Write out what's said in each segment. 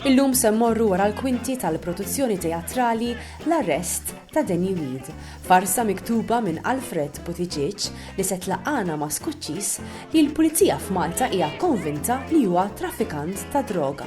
Illum se mmorru wara l-kwinti tal-produzzjoni teatrali L-Arrest ta' Danny Weed, farsa miktuba minn Alfred Buttigieg li se tlaqqagħna ma' skuċċis li l-Pulizija f'Malta hija konvinta li huwa traffikant tad-droga.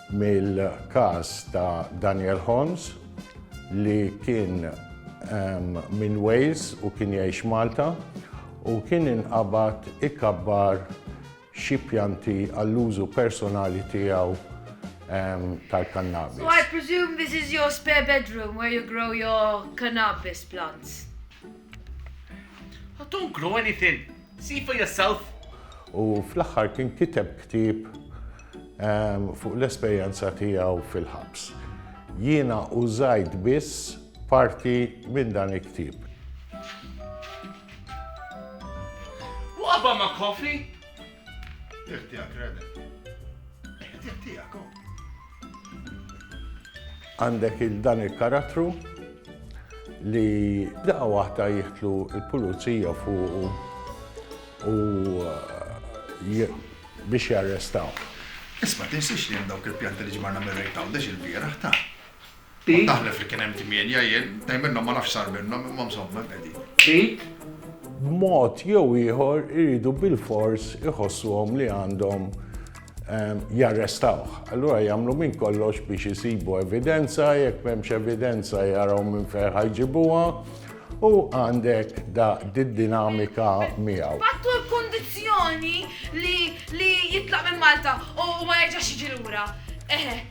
mill-każ ta' Daniel Holmes li kien minn Wales u kien jgħix Malta u kien inqabad ikabbar xi pjanti għall-użu personali tiegħu tal-kannabis. So I presume this is your spare bedroom where you grow your cannabis plants? I don't grow anything. See for yourself. U fl-aħħar kien kiteb ktieb ehm, fuq l-esperjenza tiegħu fil-ħabs. Jiena użajt biss parti minn dan il-ktieb. What about my coffee? Tih tiegħek, Rene. Tih tiegħek, oh. Għandek il-dan il-karattru li daqqa waħda jihtlu il-pulizija fuq u eh, biex jarrestaw. Isma, tinsiex li hemm dawk il-pjanti li ġmarna mir-rejt għawdex il-bieraħ ta' Kont naħlef li kien hemm tmienja jien, tnejn minnhom ma nafx x'sar minnhom imma msomma hemm qegħdin. B'mod jew ieħor iridu bilfors iħossuhom li għandhom jarrestawh. Allura jagħmlu minn kollox biex isibu evidenza, jekk m'hemmx evidenza jaraw minn fejn ħajġibuha u għandek da d-dinamika miegħu. Ħattu l-kundizzjoni li jitlaq minn Malta u ma jerġax jiġi lura. Eħe,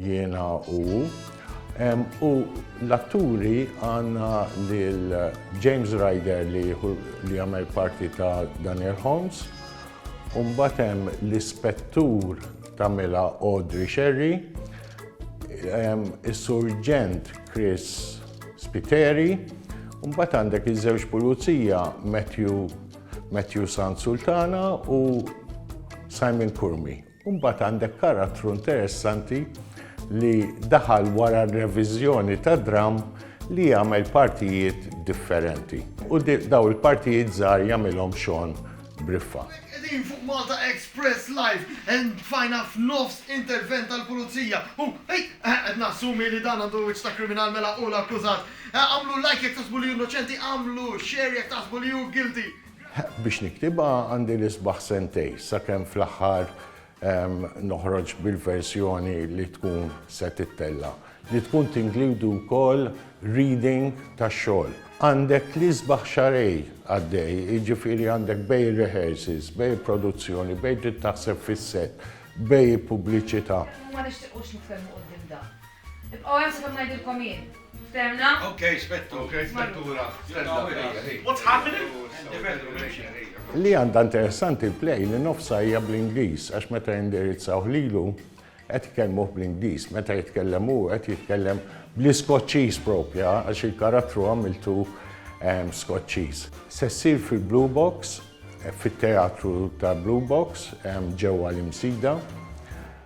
Jiena u hu. U l-atturi għandna lil James Ryder li jagħmel parti ta' Daniel Holmes, u mbagħad hemm l-Ispettur tagħmilha Audrey Scerri, is-Surġent Chris Spiteri, u mbagħad għandek iż-żewġ pulizija Matthew Sansultana u Simon Curmi. U mbagħad għandek karattru interessanti li daħal wara r-reviżjoni ta' dramm li jagħmel partijiet differenti. U dawn il-partijiet żgħar jagħmilhom Shawn Briffa. Hawnhekk qegħdin fuq Malta Express Live and tfajna f'nofs intervent tal-Pulizija u Ej! Eħe qed nassumi li dan għandu wiċċ ta' kriminal mela hu l-akkużat. Agħmlu like jekk taħsbu li hu innoċenti, agħmlu share jekk taħsbu li hu guilty. Biex niktibha għandi l-isbaħ sentejn, sakemm fl-aħħar noħroġ bil-verżjoni li tkun se tittella', li tkun tinkludi wkoll reading tax-xogħol. Għandek l-isbaħ xahrejn għaddej, jiġifieri għandek bejn ir-rehearsals, bejn il-produzzjoni, bejn trid taħseb fis-set, bejn il-pubbliċità. Ibqgħu hemm sakemm ngħidilkom jien. Ftehmna? Ok, Spettur. Ok, Spettura. Stella, ejja, ħi. What's happening? Indefendru, nimxi. Li għandha interessanti l-play li nofsha hija bl-Ingliż għax meta jindirizzawh lilu qed ikellmuh bl-Ingliż, meta jitkellem hu qed jitkellem bl-Iskoċċiż propja għax il-karattru għamiltu ehm, Skoċċiż. Se ssir fil-Blue Box, fit-teatru ta' Blue Box ehm, ġewwa l-Imsida.